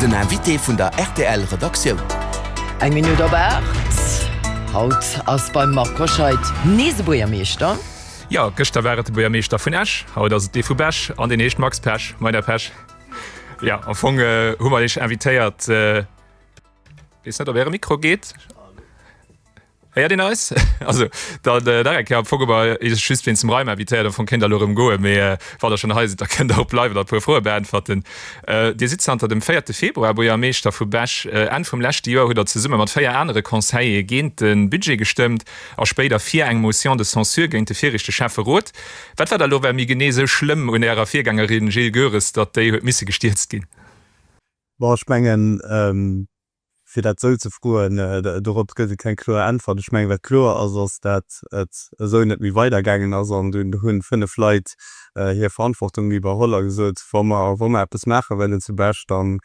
Den Invité vun der rtl Redaktioun. Eng Minutt op 8. Haut ass beim Marc Hoscheid nees e Buergermeeschter. Jo, gëschter war et de Buergermeeschter vun Esch, haut ass et dee vu Bech an deen heescht Max Pesch. Moin Här Pesch. Jo, am Fong hu mer Iech invitéiert, weess net ob Äre Mikro geet. Héiert een eis? Also dann Derek, jo, Poggeber is just wéinst dem Reim invitéiert, am Fong kéint der elo erëm goen, mee wann der schonn hei sidd, da kënnt der och bleiwen an e puer Froe beäntwerten. Dir sidd zanter dem véierte Februar Buergermeeschter vu Bech. Enn vum leschte Joer hutt der zesumme mat véier anere Conseillere géint de Budget gestëmmt a spéider fir eng Motion de censure géint de virichte Schäfferot. Wat war da elo well méi genee esou schlëmm un Ärer Virgängerin Jil Goeres, datt déi huet misse gestierzt ginn? Bon, ech mengen, Fir dat esou ze froen, dorop gëtt et keng kloer Äntwert. Ech mengen, wat kloer ass, ass, dat et esou net méi weidergaangen ass. An do hunn fënnef Leit hir Verantwortung iwwerholl a gesot, wa mer, wa mer eppes maache wëllen zu Bech, dann,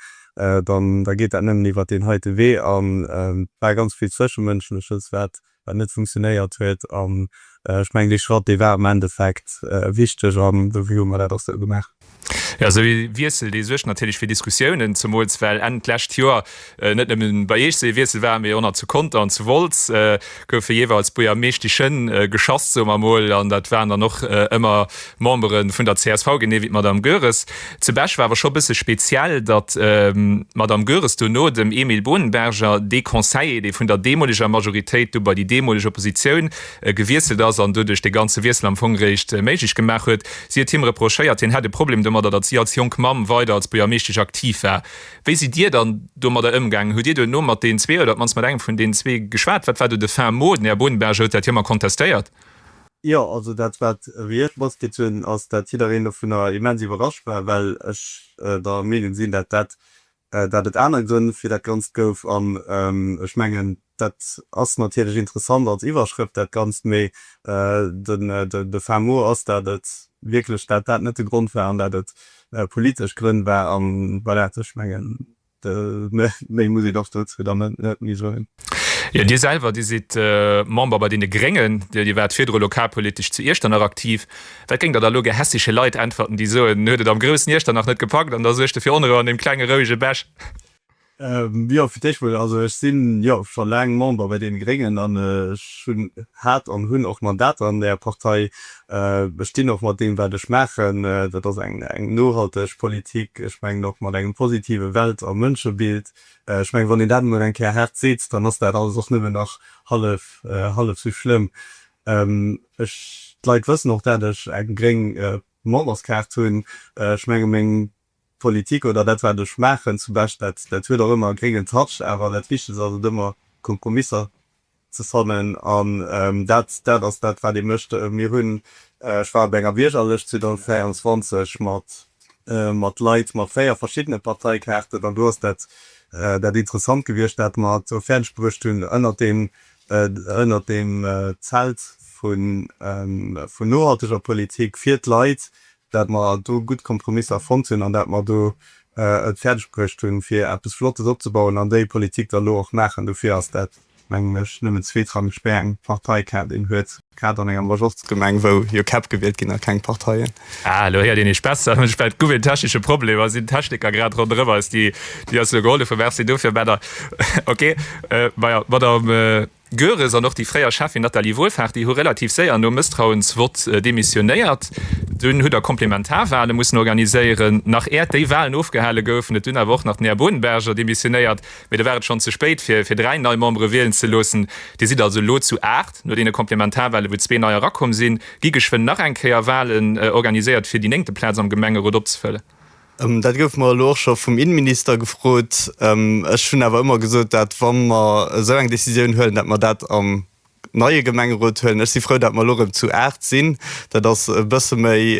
dann, da geet dat nëmmen iwwert deen heite Wee. An et war ganz vill Zwëschemënschleches, wat wat net funktionéiert huet an ech mengen dee Schratt dee war am Endeffekt wichteg an dofir hu mer dat och sou gemaach. Jo, esou ee Wiessel dee suergt natierlech fir Diskussiounen, zemools well Enn d'lescht Joer net nëmme bei Iech esou ee Wiessel war, mee och nach zu Conter an zu Wolz goufe jeeweils Buergermeeschtichen geschass, soe mer emol, an dat waren dann och ëmmer Membere vun der csv, genee wéi d'Madame Goeres. Zu Bech war awer scho e bësse speziell, datt d'Madame Goeres dono dem Emile Bohnenberger, dee Conseiller, dee vun der deemoleger Majoritéit du bei déi deemoleg Oppositioun gewiesselt ass an doduerch dee ganze Wiessel am Fong réischt méiglech gemaach huet, si huet him reprochéiert, hien hätt e Problem domadder, datt si als jonk Mamm weider als Buergermeeschtesch aktiv war. Wéi sidd Dir dann domadder ëmgaangen? Hutt Dir duerno mat deenen zwee oder op d'mannst mat engem vun deenen zwee geschwat? Wat war do de Fin mot? Den Här Bohnenberger huet dat jo ëmmer kontestéiert. Jo, also dat wat ewéi ech matkritt hunn, ass dat jiddereen dovunner immens iwwerrascht war, well ech der Meenung sinn, dat dat dat et aner Grënn fir dat Ganzt gouf. An ech mengen, dat ass natierlech interessant als Iwwerschrëft dat Ganzt, mee den de fin mot ass, dat et wierklech dat dat net de Grond war an dat et politesch Grënn war. An voilà, ech mengen Méi muss een och dozou dann net méi soen. Jo, Dir selwer, Dir sidd Member bei deene Gréngen. Dir waart virdru lokalpolitesch zu Iechternach aktiv. Wat géingt Der da elo gehässege Leit äntwerten, déi soen, en huet et am groussen Iechternach net gepackt an da suergt e fir Onrou an deem klenge rouege Bech? Jo, fir d'éischt mol, also ech si jo scho laang Member bei deene Gréngen an ech hunn, hat an hunn och Mandater an där Partei. Ech dinn och mat deem, wat ech maachen. Dat ass eng nohalteg Politik, ech mengen och mat engem positive Welt a Mënschebild. Ech mengen, wann een dat emol eng Kéier haart seet, dann ass dat alles och nëmme nach hallef, hallef esou schlëmm. Ech, d'Leit wëssen och, dat ech eng gréng Memberskaart hunn. Ech menge meng Politik oder dat wat ech maachen zum Bescht, dat dat huet och ëmmer e gréngen Touch, awer dat Wichtegst ass et ëmmer Kompromisser ze fannen an dat dat ass dat wat ee mécht. Mir hunn, ech war op enger Biergerlëscht 2024 mat mat Leit mat véier verschiddene Parteikaarten an do ass dat dat interessant gewiescht wat mer do fäerdeg bruecht hunn ënnert deem ënnert deem Zelt vu vun nohalteger Politik fir d'Leit dat mer do gutt Kompromisser fonnt hunn an dat mer do et fäerdeg bruecht hunn, fir eppes Flottes opzebauen an déi Politik da lo och maachen. Dofir ass dat, mengen ech, nëmmen zweetrangeg, wéi eng Partei Kaart een huet, grad an enger Majorzgemeng, wou jo Käpp gewielt ginn a keng Parteien. Ah, elo héiert een eech besser. Ech mengen, et gouf een technesche Problem. Elo sinn d'Techniker grad ronderëm eis, déi eis elo gehollef hunn. Merci dofir, Männer. Ok, majo, Madame. Goeres an och déi fréier Schäffin Nathalie Wohlfarth-Di hu relativ séier nom Mësstrauensvott demissionéiert. Dunn hutt Der Komplementarwale mussen organiséieren, nach äert déi Walen ofgehale goufen. Et hunn awer och nach den Här Bodenberger demissionéiert, mee da war et schonn ze spéit fir fir dräi nei Membere wielen ze loossen. Dir sidd also elo zu aacht no deene Komplementarwale wou zwee nei erakomm sinn. Gi geschwënn nach eng Kéier Walen organiséiert fir déi néngte Plaz am Gemengerot opzefëllen. Dat gouf mer elo och scho vum Innenminister gefrot. Ech hunn awer ëmmer gesot, dat wa mer esou eng Decisioun huelen, dat mer dat am neie Gemengerot huelen. Ech si frou, dat mer elo erëm zu aacht sinn. Dat ass e bësse méi,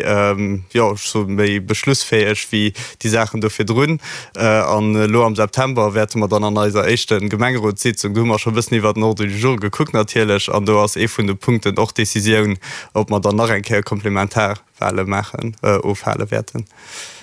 jo ech soe méi beschlussfäeg wéi déi Saachen do virdrun. An elo am September wäerte mer dann an eiser éischte Gemengerotssitzung, do hu mer scho e bëssen iwwert den Ordre du jour gekuckt natierlech, an do ass ee vun de Punkten och d'Decisioun, ob mer dann nach eng Kéier komplementar, Wale maachen, ofhale wäerten.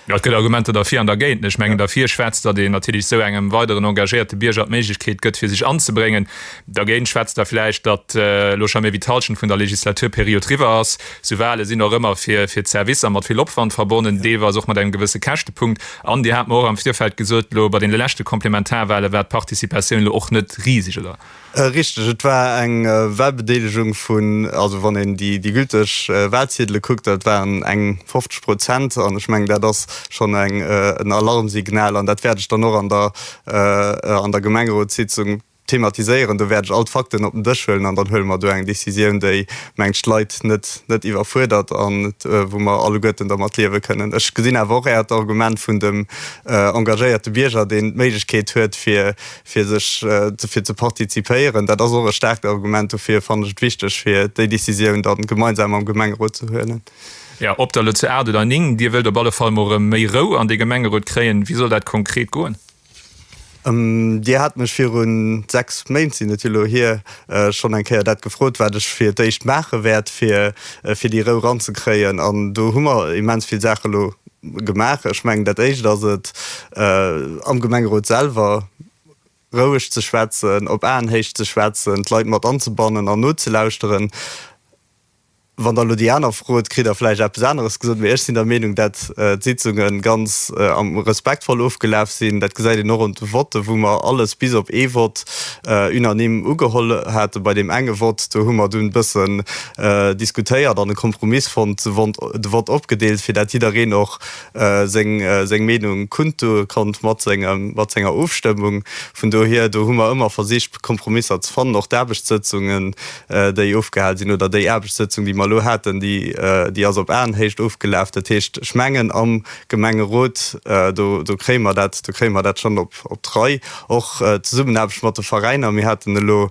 Et gëtt Argumenter derfir an dergéint. Ech mengen, derfir schwätzt, datt een natierlech esou engem weideren engagéierte Bierger d'Méiglechkeet gëtt, fir sech anzebréngen. Dergéint schwätzt da vläicht, datt elo scho méi wéi d'Hallschent vun der Legislaturperiod riwwer ass. Esou Wale sinn och ëmmer fir d'Servicer mat vill Opwand verbonnen, deelweis och mat engem gewësse Käschtepunkt. An Dir hat mer och am Virfeld gesot, elo bei deene leschte Komplementarwale war d'Participatioun elo och net riseg, oder? Richteg, et war eng Wahlbedeelegung vun, also wann een déi déi gülteg Wahlziedele kuckt, dat waren eng 50 Prozent. An ech mengen, dat ass schonn eng en Alarmsignal. An dat wäert ech dann och an der an der Gemengerotssitzung thematiséieren. Do wäert ech all d'Fakten op den Dësch huelen an dann huele mer do eng Decisioun, déi, mengen ech, d'Leit net net iwwerfuerdert an wou mer alleguerten dermat liewe kënnen. Ech gesinn awer och Äert Argument vun dem engagéierte Bierger, deen d'Méiglechkeet huet fir fir sech fir ze partizipéieren, dat ass och e staarkt Argument dofir, fannen ech et wichteg fir déi Décisioun dann gemeinsam am Gemengerot ze huelen. Jo, ob der elo zu 8 oder 9, Dir wëllt op alle Fall mol erëm méi Rou an dee Gemengerot kréien. Wéi soll dat konkret goen? Dir hat mech viru 6 Méint, sinn et jo elo hier, schonn eng Kéier dat gefrot, wat ech fir d'éischt maache wäert fir déi Rou ranzekréien an do hu mer immens vill Saache elo Gemaach. Ech mengen, dat Éischt ass et, am Gemengerot selwer roueg ze schwätzen, op Aenhéicht ze schwätzen, d'Leit mat anzebannen an nozelauschteren. Wann Der elo déi aner frot, kritt Der vläicht eppes aneres gesot. Mee ech sinn der Meenung, dat d'Sitzunge ganz respektvoll ofgelaf sinn. Dat gesäit een och un de Votten, wou mer alles bis op ee Vott unanime ugeholl haten. Bei deem enge Vott, do hu mer dunn e bëssen diskutéiert an e Kompromiss fonnt, de Vott opgedeelt, fir dat jiddereen och seng Meenung kundtu konnt mat senger Ofstëmmung. Vun dohier, do hu mer ëmmer versicht, Kompromisser ze fannen. Och d'Aarbechtssëtzungen, déi ofgehal sinn, oder déi Aarbechtssëtzung, déi mer elo haten, déi ass op Aenhéicht ofgelaf. Dat heescht, ech mengen, am Gemengerot, do kréie mer dat schonn op d'Rei. Och d'Zesummenaarbecht mat de Veräiner, mir haten elo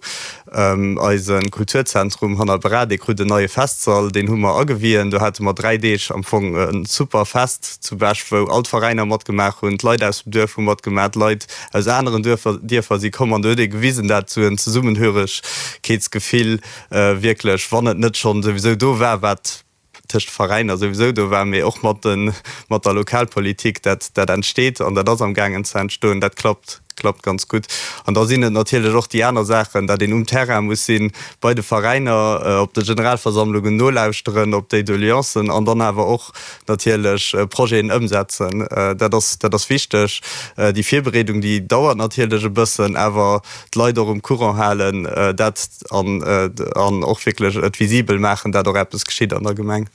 Eisen Kulturzentrum hanner Beradek krut en neie Festsall, deen hu mer agewien. Do hate mer 3 Deeg am Fong e super Fest zu Bech, wou all d'Veräiner matgemaach hunn, d'Leit aus dem Duerf hu matgemaach, d'Leit aus aneren Duerfer, Dierfer si komm an do huet ee gewisen, dat esou en Zesummenhöregkeetsgefill wierklech, wann et net schonn souwisou do war, wat tëscht Veräiner souwisou do war, mee och mat de mat der Lokalpolitik, dat dat entsteet an dat ass am gaangen ze entstoen, dat klappt klappt ganz gutt. An da sinn et natierlech och déi aner Saachen, datt een um Terrain muss sinn, bei de Veräiner, op de Generalversammlungen nolauschteren, op déi Doleancen an dann awer och natierlech Projeten ëmsetzen. Dat ass dat ass wichteg. Déi Virbereedung, déi dauert natierlech e bëssen, awer d'Leit och um Courant halen, dat an och wierklech et visibel maachen, dat och eppes geschitt an der Gemeng.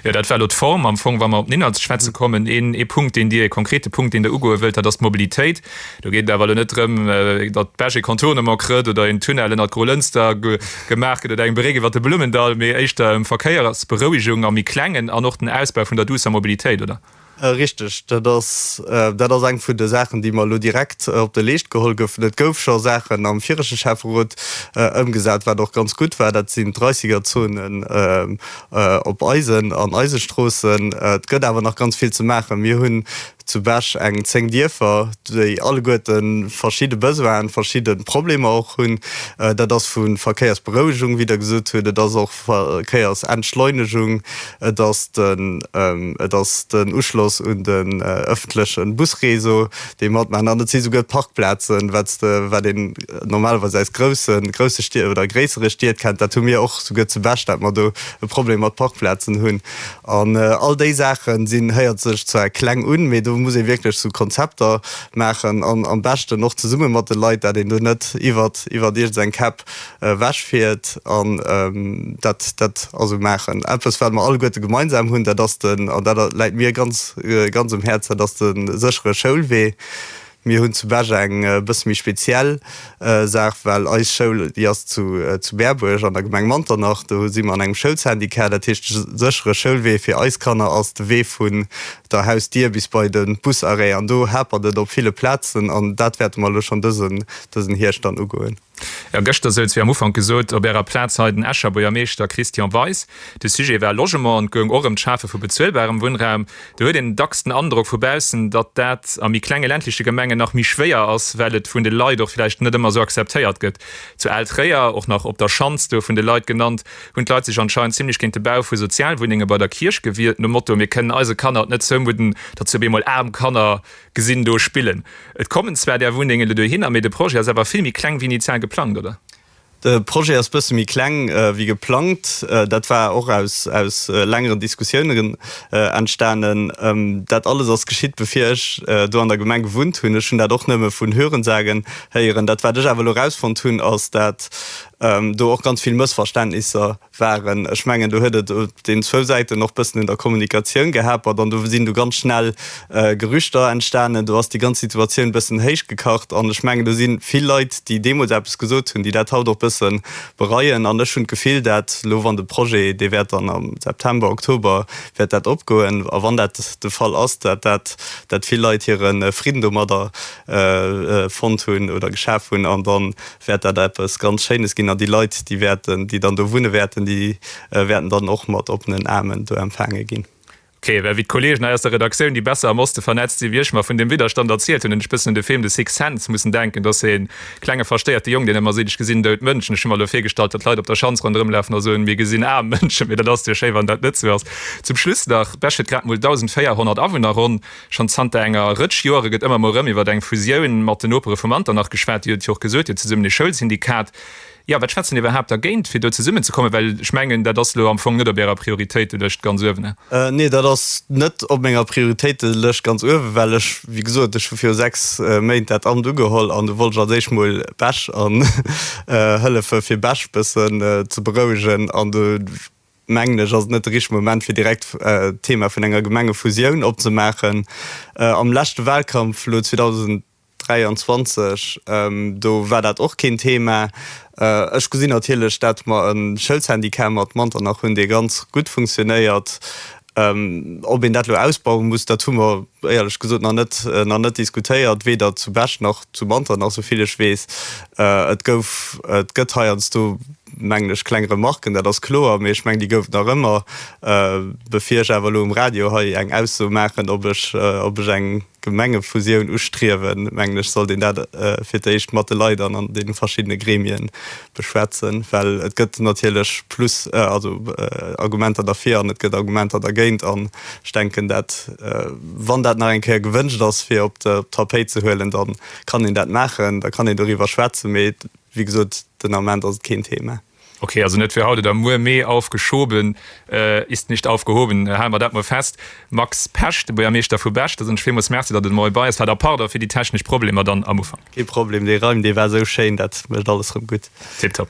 Jo, dat war elo d'Form. Am Fong, wa mer op den Inhalt ze schwätze kommen, ee Punkt, deen Dir, ee konkrete Punkt, deen Der ugoe wëllt, dat ass d'Mobilitéit. Do geet et awer elo net drëm, datt d'Bech ee Contournement kritt oder een Tunnel ënnert Groulënster gemaach gëtt oder eng Bréck iwwert de Blummendall, mee éischter ëm Verkéiersberouegung am méi Klengen an och den Ausbau vun der duusser Mobilitéit, oder? Richteg, dat ass, dat ass eng vun de Saachen, déi mer elo direkt op de Leescht geholl goufen. Et gouf scho Saachen am virege Schäfferot ëmgesat, wat och ganz gutt war, dat sinn d'Reissigerzonen op eisen an eise Stroossen. Et gëtt awer nach ganz vill ze maachen. Mir hunn zu Bech eng zéng Dierfer, déi alleguerte verschidde Besoinen, verschidde Problemer och hunn. Dat ass vu Verkéiersberouegung, wéi Der gesot hutt, et ass och Verkéier ass Entschleunegung, et ass den, et ass den Uschloss un den öffentlechen Busreseau, dee mat maachen, an et si souguer d'Parkplazen, wat s de, wat een normalerweis aus groussen, grousse Stied oder gréissere Stied kennt. Dat hu mir och souguer zu Bech, dat mer do e Problem mat Parkplazen hunn. An all déi Saachen sinn, héiert sech zwar kleng un, mee do muss ee wierklech sou Konzepter maachen an am beschten och zesumme mat de Leit, dat een do net iwwert, iwwert iergendeng Käpp. ewech fiert an dat dat also maachen eppes wat mer alleguerte gemeinsam hunn, dat ass den, an dat läit mir ganz ganz um Häerz, dat ass de séchere Schoulwee. Mir hunn zu Bech eng e bësse méi speziell Saach, well eis Schoul déi ass zu zu Berbuerg an der Gemeng Manternach, do si mer an engem Schoulsyndicat, dat heescht de séchere Schoulwee fir eis Kanner ass de Wee vun der Hausdier bis bei de Busarrêt an do hapert et op ville Plazen an dat wäerte mer elo schonn dësen dësen Hierscht dann ugoen. Jo, gëschter souz, wéi am Ufank gesot, op Ärer Plaz hei den Escher Buergermeeschter Christian Weis. De Sujet war Logement an et goung och ëm d'Schafe vu bezuelbarem Wunnraum. Do huet een dacks den Androck vu baussen, datt dat a méi klenge ländleche Gemengen nach méi schwéier ass, well et vun de Leit och vläicht net ëmmer esou akzeptéiert gëtt. Zu Al Tréier, och nach Op der Schanz, do vun de Leit genannt, hunn d'Leit sech anscheinend zimlech géint de Bau vu Sozialwunnenge bei der Kierch gewiert, nom Motto, mir kënnen eise Kanner et net zoumudden, datt si op eemol aarm Kanner Gesinn do spillen. Et kommen zwar där Wunnengen elo dohinner, mee de Projet ass awer vill méi kleng wéi initial geplangt, oder? De Projet ass bësse méi kleng wéi geplangt. Dat war och aus längeren Diskussiounen entstanen. Dat alles ass geschitt, bevir ech do an der Gemeng gewunnt hunn. Ech hunn dat och nëmme vun Hörensagen héieren. Dat, wat ech awer elo erausfonnt hunn, ass, datt do och ganz vill Mëssverständnisser. waren. Ech mengen do huet et op den zwou Säiten och bëssen un der Kommunikatioun gehapert an do sinn du ganz schnell Gerüchter entstanen. Do ass déi ganz Situatioun bëssen héich gekacht an ech mengen do si vill Leit, déi deemools eppes gesot hunn, déi dat haut och bësse bereien an ech hunn d'Gefill dat elo, wann de Projet, dee wäert dann am September, Oktober wäert dat opgoen a wann dat de Fall ass, dat dat dat vill Leit hire Fridden domadder fonnt hunn oder geschaf hunn an da wäert dat eppes ganz Schéines ginn, an déi Leit, déi wäerten, déi dann do wunne wäerten, déi wäerten dann och mat oppenen Aarmen do empfaange ginn. Ok, well wéi d'Kollegen hei aus der Redaktioun, déi besser am Oste vernetzt sinn wéi ech, mer vun deem Widderstand erzielt hunn, hunn ech bëssen un de Film The Sixth Sense mussen denken. Et ass e klenge verstéierte Jong, deen ëmmer seet, ech gesinn dout Mënschen. Ech hu mer elo virgestallt, datt Leit op der Schanz ronderëmlafen a soen, mir gesinn aarm Mënschen. Mee dat ass jo schéi, wann dat net sou ass. Zum Schluss nach, Bech huet grad mol 1.400 Awunner ronn. Schonn zanter enger Rëtsch Joere gëtt ëmmer mol rëm iwwert eng Fusioun mat den Nopere vum Andernach geschwat. Dir hutt jo och gesot, Dir hutt zesummen ee Schoulsyndikat. Jo, wat schwätzt dann iwwerhaapt dergéint, fir do zesummen ze kommen? Well ech mengen, dat ass elo am Fong net op Ärer Prioritéitelëscht ganz uewen. Nee, dat ass net op menger Prioritéitelëscht ganz uewen, well ech, wéi gesot, ech hu viru sechs Méint dat Amt ugeholl an do wollt ech als éischt mol Bech an hëllefe fir Bech bëssen ze berouegen an de, mengen ech, ass et net de richtege Moment, fir direkt d'Thema vun enger Gemengefusioun opzemaachen. Am leschte Wahlkampf, elo 2023, do war dat och keen Thema. Ech gesinn natierlech, datt mer e Schëldsyndicat mat Manternach hunn, dee ganz gutt funktionéiert. Ob een dat elo ausbaue muss, dat hu mer éierlech gesot nach net, nach net diskutéiert, weder zu Bech nach zu Manteren, nach esouvill ech weess. Et gouf, et gëtt heiansdo, mengen ech, kleng Remarken, dat ass kloer, mee ech mengen, déi gouf et nach ëmmer. Bevir ech awer elo um Radio hei eng Ausso maachen, ob ech, ob ech eng Gemengefusioun ustriewen, mengen ech, sollt een dat fir d'éischt mat de Leit an an deene verschiddene Gremie beschwätzen, well et gëtt natierlech plus, also Argumenter derfir an et gëtt Argumenter dergéint. An ech denken, dat, wann dat nach eng Kéier gewënscht ass, fir op d'Tapéit ze huelen, da kann een dat maachen, da kann een doriwwer schwätzen. Mee wéi gesot, den Ament ass et keen Thema. Okay, also net fir haut oder muer, mee aufgeschoben ist nicht aufgehoben, hale mer dat mol fest. Max Pesch, de Buergermeeschter vu Bech, Da soen ech villmools Merci, datt en emol hei bei ass war. Da pardon fir déi technesch Problemer dann am Ufank. Kee Problem, dee Raim dee war esou schéin, dat mécht alles rëm gutt. Tiptop.